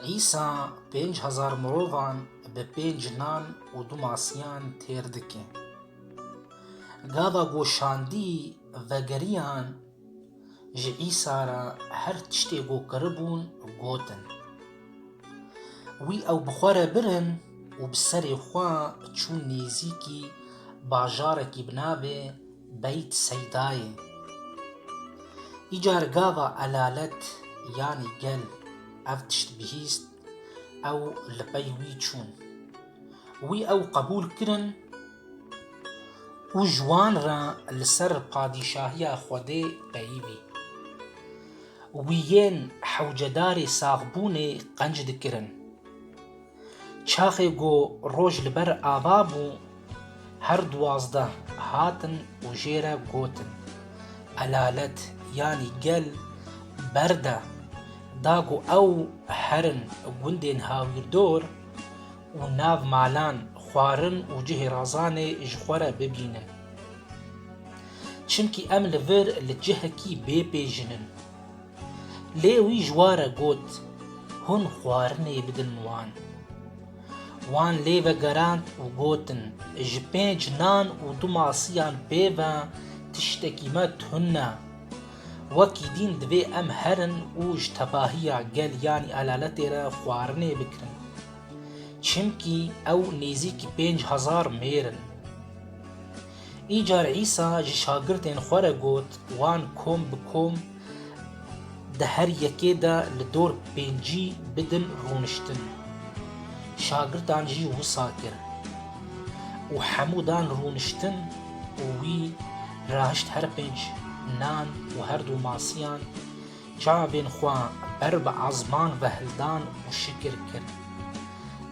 Îsa pênc hezar mirovan bi pênc nan û du masiyan têr dike. Gava goşandî vegeriyan ji Îsa re her tiştê ku kiribûn gotin. Wî ew bi xwe re birin û bi serê xwe çûn nêzîkî bajarekî bi navê Beyt Seydayê Îcar gava elalet yanî gel ev tişt bihîst ew li pey wî çûn. Wî ew qebûl kirin û ji wan re li ser padîşahiya Xwedê peyivî. Wî yên hewcedarê saxbûnê qenc dikirin. Çaxê ku roj li ber ava bû, her duwazdeh hatin û jê re gotin, Elalet yanî gel berde da ku ew herin gundên hawîrdor û nav malan xwarin û cihê razanê ji xwe re bibînin. Çimkî em li vir li cihekî bê pê jin in. Lê wî ji wa re got, Hûn xwarinê bidin wan. Wan lê vegerand û gotin, Ji pênc nan û du masiyan pê ve tiştekî me tune. Wekî dîn divê em herin û ji tevahiya gel yanî elaletê re xwarinê bikirin. Çimkî ew nêzîkî pênc hezar mêr in. Îcar Îsa ji şagirdên xwe re got, wan kom bi kom Di her yekê de li dor pêncî bidin rûniştin. Şagirdan jî wisa kir û hemû dan rûniştin û wî rahişt her pênc nan û her du masiyan çavên xwe ber bi ezman ve hildan û şikir kir.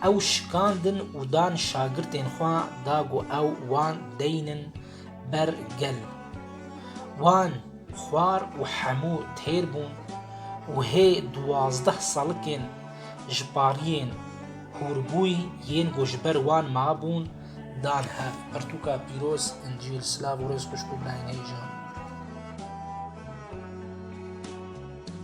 Ew şikandin û dan şagirtên xwe da ku ew wan deynin ber gel. Wan xwar û hemû têr bûn û hê duwazdeh salikên ji pariyên hûrbûyî yên ku ji ber wan mabûn dan hev. Pirtûka pîroz, Încîl, Silav û Rêz Xwişk û Birayên Hêja.